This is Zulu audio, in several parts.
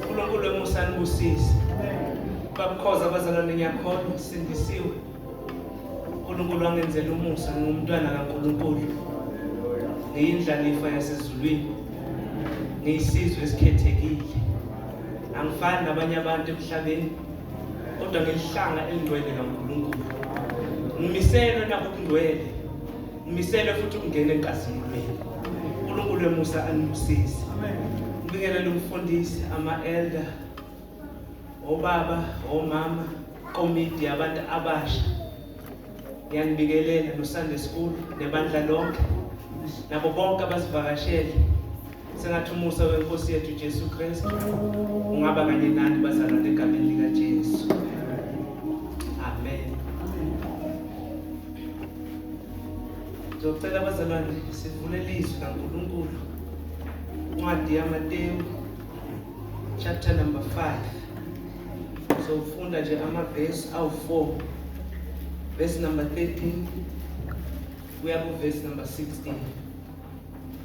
uNkulunkulu emusa anibusise babukhoza abazalwane ngiyakhona sindisiwe uNkulunkulu wangenzela umusa ngingumntwana kaNkulunkulu ngiyindlalifa yasezulwini ngiyisizwe esikhethekile angifani nabanye abantu emhlabeni kodwa ngelihlanga elingcwele kaNkulunkulu ngimiselwe nakukungcwele Umisele futhi ungene enkazimulweni. UNkulunkulu emusa anibusise. Ngibingelele umfundisi, ama-elder, obaba, omama, komiti yabantu abasha. Ngiyanibikelela noSunday School nebandla lonke nabo bonke abasivakashele sengathi umusa wenkosi yethu Jesu Kristu ungaba kanye nani bazalwane egameni lika Jesu amen Ngizocela abazalwane sivule lizwi kaNkulunkulu incwadi yaMateyu chapter number 5 sofunda nje amavesi awu-4 verse number 13 kuya ku verse number 16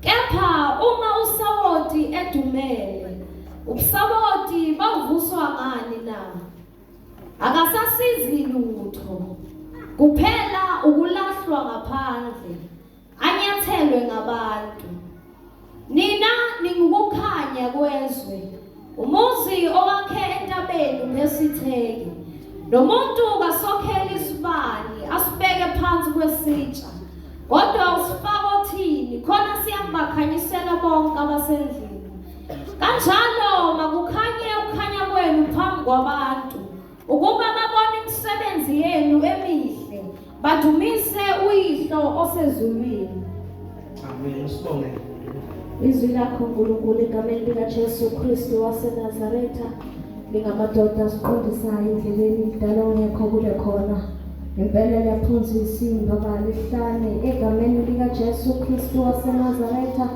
Kepha uma usawoti edumele, ubusawoti bavuswa ngani na? Akasasizi lutho. Kuphela ukulahlwa ngaphandle, anyathelwe ngabantu. Nina ningukukhanya kwezwe. Umuzi owakhe entabeni unesitheki. Nomuntu kasokhela isibani asibeke phansi kwesitsha. Kodwa usifaka othini khona siyakubakhanyisela bonke abasendlini. Kanjalo makukhanye ukukhanya kwenu phambi kwabantu. ukuba babone imisebenzi yenu emihle badumise uyihlo osezulwini amen usibonge izwi lakho nkulunkulu egameni likajesu kristu wasenazaretha lingamadoda siqondisayo endleleni mdala ongekho kule khona impela liyaphonsa isimba balihlane egameni likajesu kristu wasenazaretha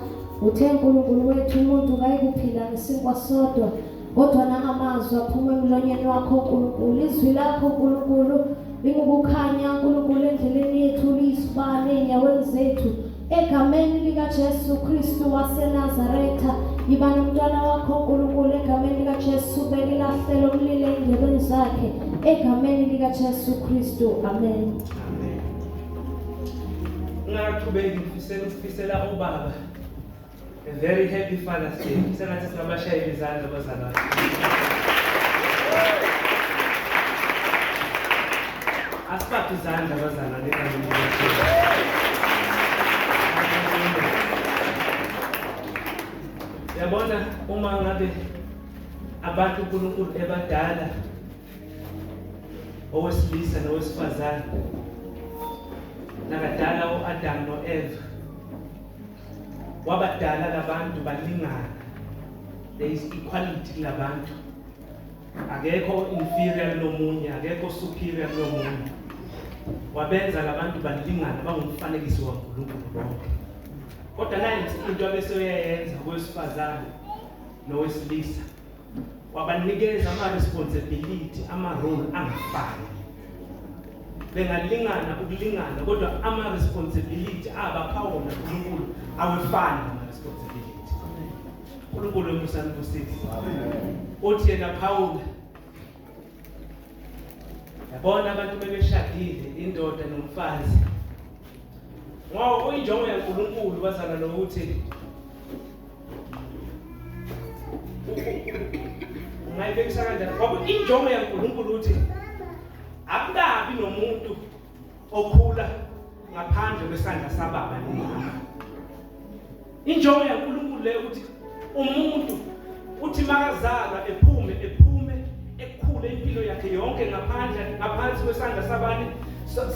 uthe nkulunkulu wethu umuntu kayikuphila ngesinkwa sodwa kodwa nangamazwi aphuma emlonyeni wakho nkulunkulu izwi lakho nkulunkulu lingukukhanya nkulunkulu endleleni yethu liyisibane enyaweni zethu egameni likajesu kristu wasenazaretha yiba nomntwana wakho nkulunkulu egameni likajesu belilahlelo umlile endlebeni zakhe egameni likajesu kristu amen ngaqhubeki ngifisela ukufisela ubaba A very happy Father's Day. Sengathi singabashayela izandla abazalwane. Asiphathe izandla abazalwane kanye Yabona uma ngabe abantu uNkulunkulu ebadala owesilisa nowesifazane nakadala uAdam noEva wabadala labantu balingana there is equality kulabantu akekho inferior kulomunye akekho superior kulomunye wabenza labantu balingana bangumfanekiso waNkulunkulu bonke kodwa nayo into abeseyoyenza kowesifazane nowesilisa wabanikeza ama-responsibility ama-role angafani bengalingana ukulingana kodwa ama-responsibility abapha wona unkulunkulu awefani ama-responsibility unkulunkulu emusani kusisi othi yena phawula yabona abantu bebeshadile indoda nomfazi ngoba kuyinjongo yaNkulunkulu bazana lokuthi ungayibekisa kanjani ngoba injongo yaNkulunkulu ukuthi akukabi nomuntu okhula ngaphandle kwesandla sababa nomama injongo yaNkulunkulu le ukuthi umuntu uthi makazalwa ephume ephume ekhule impilo yakhe yonke ngaphandle ngaphansi kwesandla sabani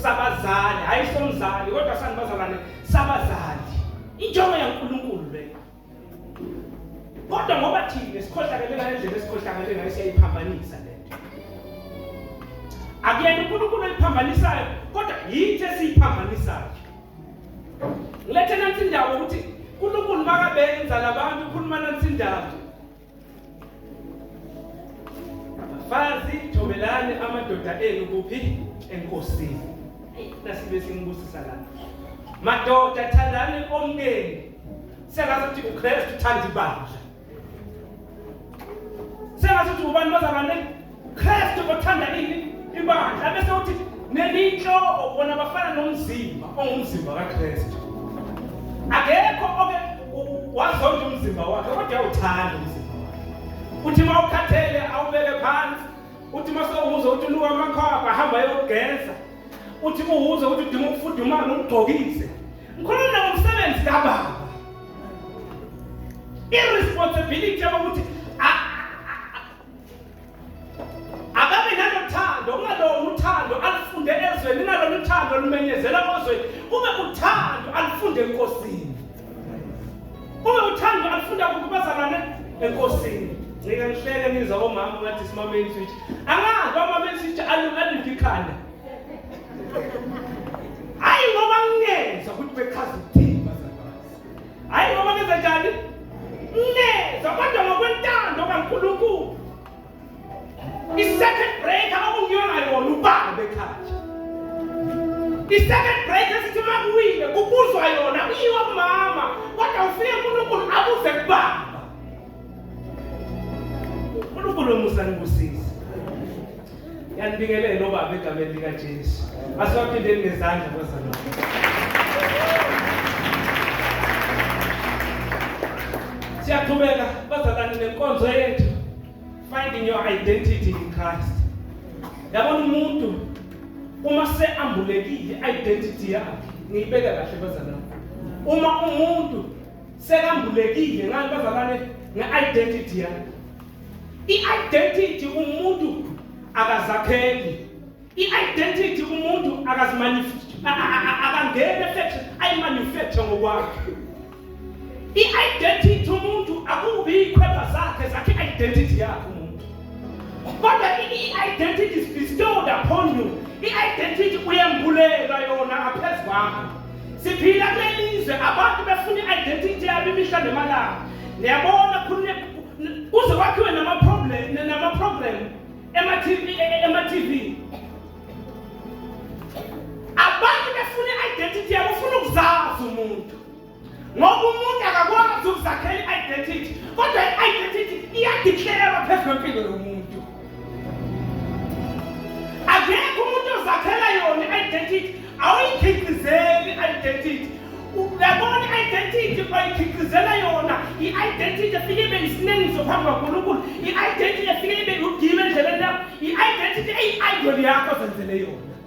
sabazali hayi somzali kodwa sani bazalwane sabazali injongo yaNkulunkulu kodwa ngoba thina esikhohlakele ngale ndlela esikhohlakele ngayo siyayiphambanisa le nto akuyena unkulunkulu oyiphambanisayo kodwa yithi esiyiphambanisayo ngilethe nansi indawo ukuthi unkulunkulu makabenza labantu ukhuluma nansi indawo Bafazi thobelani amadoda enu kuphi enkosini. Nasibe simbusisa la. Madoda thandani omkeni. Sengathi ukuthi uKristu uthanda ibandla. Sengathi ukuthi ubani bazabane Kristu othanda ini ibandla bese uthi neliyinhloko bona bafana nomzimba ongumzimba kaKristu akekho oke wazonda umzimba wakhe kodwa uthanda umzimba wakhe uthi uma ukhathele awubeke phansi uthi uma sewuza uthi unuka amakhwapha ahamba yokugeza uthi uwuza ukuthi udinga ukufudumala ugqokise ngikhuluma ngomsebenzi kababa i-responsibility yokuthi ababe nalothando kungalona uthando alufunde ezweni kungalona uthando lumenyezela kozweni kube uthando alufunde enkosini kube uthando alufunda kukubazalane enkosini ngike ngihleke nizwa komama ngathi simameni switch angazi amameni switch aluliphi ikhanda hayi ngoba ngingezwa ukuthi bechaza hayi noma nenza njani neza kodwa ngokwentando kankulunkulu i-second break abakungiyolayo wona ubani bekhathi i-second break esithi uma kuwile kubuzwa yona kuyiwa kumama kodwa ufike unkulunkulu abuze kubaba uNkulunkulu omusa nibusise yanibingelela obaba egameni likaJesu asibaphindeni ngezandla bazalwane siyaqhubeka bazalwane nenkonzo yethu finding your identity in Christ yabona umuntu uma seambulekile identity yakhe ngiyibeka kahle bazalwane uma umuntu sekambulekile ngani bazalwane nge-identity yami i-identity umuntu akazakheli i-identity umuntu akangeni efection ayimanufacture ngokwakhe i-identity umuntu akubi ikhweba zakhe zakhe i-identity yakhe umuntu kodwa i-identity is bestowed upon you i-identity uyembulelwa yona ngaphezu kwakho siphila kulelizwe abantu befuna i-identity yabo imihla nemalanga niyabona kuze kwakhiwe namaprogram ema-tv e, e, abantu befuna i-identity yabo ufuna ukuzazi umuntu ngoba umuntu akakwazi ukuzakhela i-identity kodwa i-identity iyadiklerwa phezu kwempilo yomuntu akekho umuntu ozakhela yona identity awuyikhiqizeli identity uyabona i-identity oyikhiqizela yona i-identity efike ibe yisinengiso phambi kwankulunkulu i-identity efike ibe yugile endleleni yakho i-identity eyi-idol yakho zenzele yona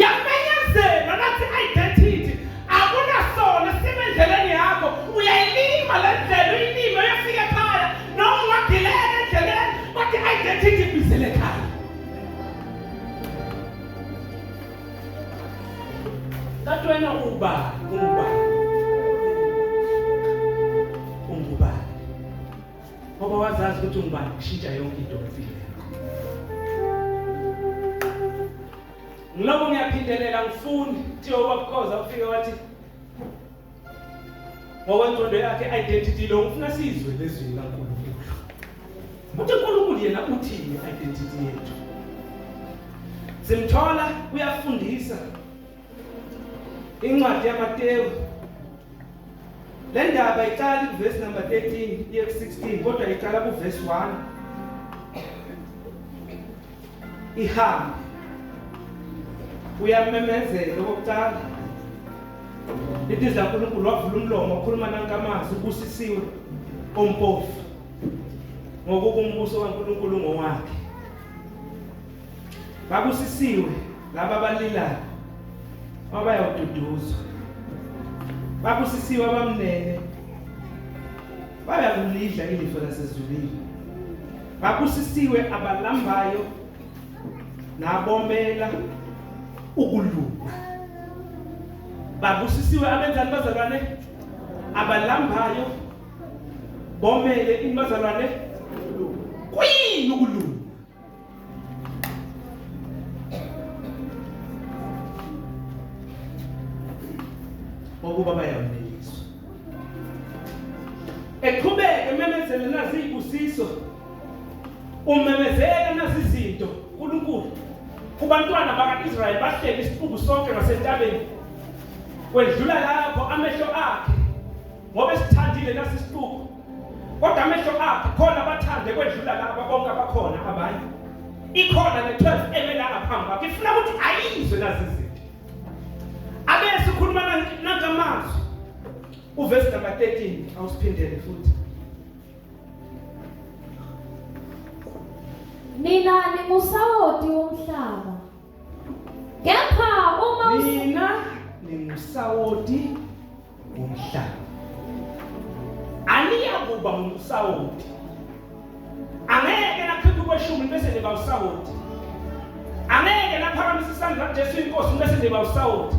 yamenyezelwa nathi identity akunasona sime endleleni yakho uyayilima le ndlela uyilime uyafika ekhaya noma ungagileka endleleni kodwa i-identity ibizele ekhaya kanti wena uba ungubani ngoba wazazi ukuthi ungubani kushintsha yonke into empilweni ngiloko ngiyaphindelela ngifuni kuthiwa ubabukhoza ufike wathi ngokwentondo yakhe identity lo ngifuna sizwe lezwi likankulunkulu uthi unkulunkulu yena uthini identity yethu simthola uyafundisa incwadi yamatewu le ndaba iqali kuvesi number 13 iye ku-16 kodwa iqala kuvesi 1 ihambe uyamemezela okokuqala ithi zankulunkulu wavula umlomo wakhuluma nankamazwi ubusisiwe ompofu ngokuba umbuso kankulunkulu ngowakhe Babusisiwe laba abalilayo abayawududuzwa. Babusisiwe abamnene bayakulidla ilifa lasezulwini. Babusisiwe abalambayo nabomela ukulunga. Babusisiwe abenzani bazalwane abalambayo bomele inibazalwane kuyini ukulunga ukuba bayaneliswa eqhubeke ememezela naziyibusiso umemezela nazizinto uNkulunkulu kubantwana bakaIsrayeli bahleli isiqubu sonke ngasentabeni kwedlula lapho amehlo akhe ngoba esithandile nasisiqubu kodwa amehlo akhe khona abathande kwedlula laba bonke abakhona abanye ikhona ne-12 emelanga phambi kwakhe ifuna ukuthi ayizwe nazi izinto abe sikhuluma nangamazwi uvesi number 13 awusiphindele futhi nina ningusawoti womhlaba Kepha uma nina ningusawoti womhlaba. Aniya kuba ngusawoti. Angeke nakhetha ukweshumi bese niba usawoti. Angeke naphakamisa isandla kuJesu inkosi bese niba usawoti.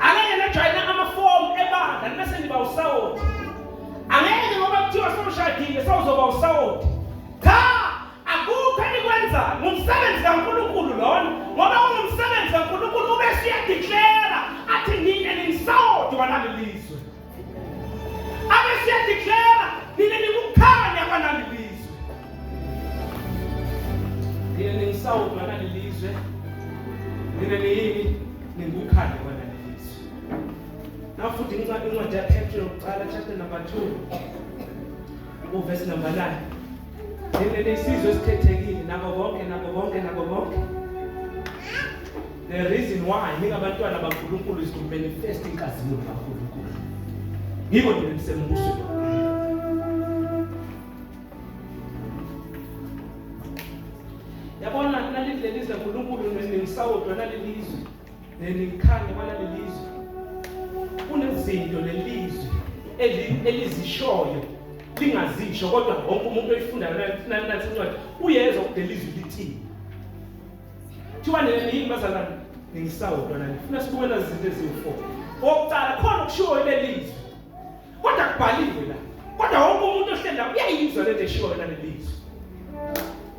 Angeke najwayina amafomu ebandla bese niba usawoti. Angeke ngoba kuthiwa sewushadile sewuzoba usawoti. Akukho enikwenzayo ngumsebenzi kaNkulunkulu lona ngoba ungumsebenzi kaNkulunkulu ube siyadeclara athi nina ninsawoti walali lizwe abe siyadeclara nina nikukhanya kwalali lizwe nina ninsawoti walali lizwe nina niyini ningukhanya kwalali lizwe nafuthi incwadi yaphetro yokuqala chapter number 2 uvesi number 9 Leli isizwe esikhethekile nabo bonke nabo bonke nabo bonke. The reason why ningabantwana baNkulunkulu is to manifest inkazimulo kaNkulunkulu. Yiko nje nisembuso. Yabona nalilizwe uNkulunkulu ningisawodwa nalilizwe. Nelikhanda bala lelizwe. Kunezinto lelizwe elizishoyo lingazisho kodwa wonke umuntu oyifundayo nathi incwadi uyezwa ukuthi lelizwe lithini. Thiwa nina yini bazalwane ngisawodwa nani. Funa sibuke nazinto eziwu-4. Okokuqala khona okushiwo lelizwe. Kodwa kubhaliwe la. Kodwa wonke umuntu ohleli lapha uyayizwa lento eshiwo yona lelizwi.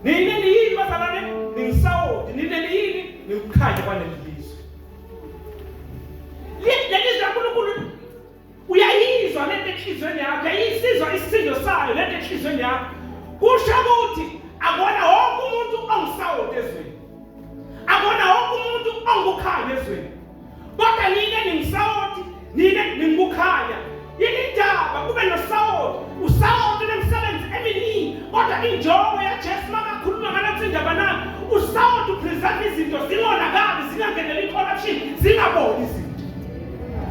Nini nini bazalwane ningisawoti nini nini nikukhanya kwaleli lizwi. Lelizwi laNkulunkulu uyayizwa lento enhlizweni yakho, uyayisizwa isisindo sayo lento enhlizweni yakho. Kusho ukuthi akona wonke umuntu ongisawoti ezweni. Akona wonke umuntu ongukhanya ezweni. Kodwa nina ningisawoti, nina ningukhanya. Yini indaba kube nosawoti? Usawoti unemsebenzi eminingi, kodwa injongo yaJesu makakhuluma ngalathi indaba na usawoti upreserve izinto zingonakali, zingangeneli i-corruption, zingaboli izinto.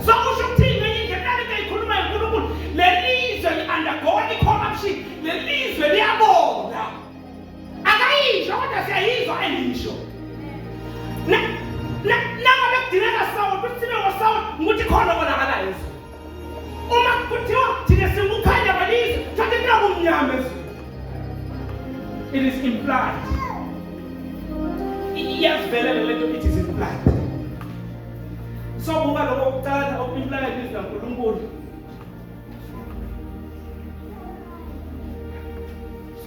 So usho ukuthini ngenye indlela nalento ayikhulumayo uNkulunkulu, leli lizwe li-undergoing i-corruption, leli lizwe liyabona. akayisho kodwa siyayizwa engiyisho noma bekudingeka sawoti ukuthi sibe ngosawoti ngukuthi khona obonakalayo ezweni uma kuthiwa thina singukhanya balizwe thatha into kumnyama ezweni it is implied iyazivelela lento it is implied sobuka lokho kucala okumplayo ilizwi lankulunkulu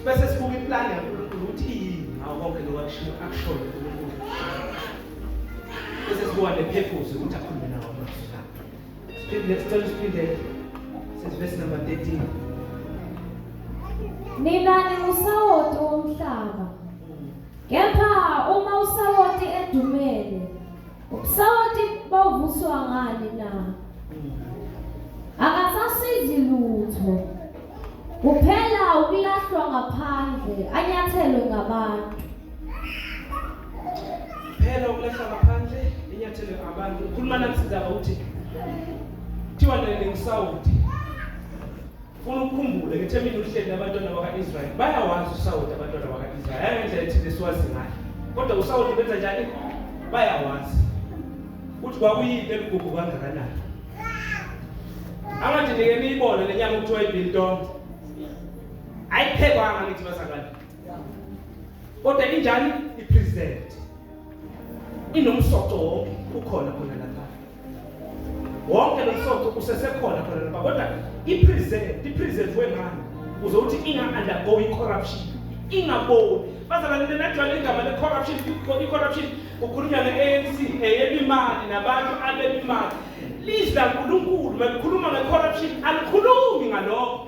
bese sibuka iplani yaNkulunkulu ukuthi iyini ngawo konke lokho akushiyo akushoyo uNkulunkulu bese sibuka nepurpose ukuthi akhulume nawo amazwi siphinde sicela siphinde sesivesi number 13 nina niwusawoti womhlaba kepha uma usawoti edumele Ubusawoti bovuswa ngani na? Akasasizi lutho. Kuphela ukulahlwa ngaphandle, anyathelwe ngabantu. Phela ukulahlwa ngaphandle, inyathelwe ngabantu. Ukhuluma nami sizaba ukuthi kuthiwa nale ngisawoti. Funa ukukhumbule ukuthi emini uhleli nabantwana baka-Israyeli bayawazi usawoti abantwana baka-Israyeli angendlela ethile siwazi ngayo kodwa usawoti benza njani bayawazi ukuthi kwakuyini eligugu kangakanani angathi nike niyibone le nyama kuthiwa ibiltong ayiphekwanga ngithi bazalwane kodwa injani ipresent inomsoco wonke ukhona khona wonke lo msoco usesekhona khona lapha kodwa i-present i-present wengane uze uthi inga-undergo i-corruption ingaboni bazalwane nenajwayele igama le-corruption i-corruption kukhulunywa ne-anc eyebimali nabantu abebimali lizwi lankulunkulu malikhuluma nge-corruption alikhulumi ngalokho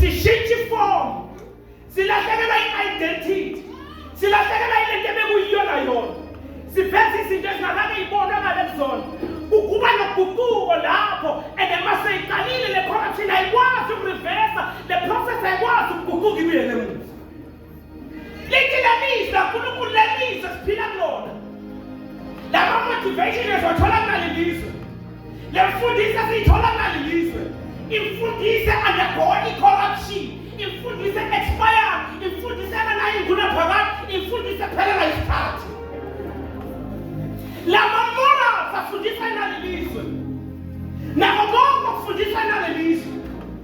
sishintsha ifomu silahlekelwa i-identity silahlekelwa ilento ebekuyiyona yona siveza izinto ezingakake yibonwa ngale kuzona kukuba noguquko lapho and uma seyiqalile le corruption ayikwazi ukurivesa le process ayikwazi ukuguquka ibuyele emuva Lithi lamisa uNkulunkulu lamisa siphila kulona. Lama motivation ezothola ngale lizwe. Lemfundisi asiyithola ngale lizwe. Imfundisi undergoing corruption. Imfundisi expire. Imfundisi enganayo inguna phakade. Imfundisi ephelela isikhathi. Lama morals afundisa nalelizwe. Nako konke okufundisa nalelizwe.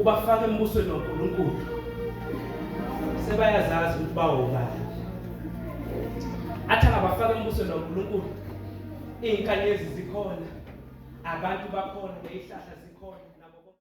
ubafaka embusweni waNkulunkulu sebayazazi ukuthi bawobani athi angabafaka embusweni waNkulunkulu iy'nkanyezi zikhona abantu bakhona neyihlahla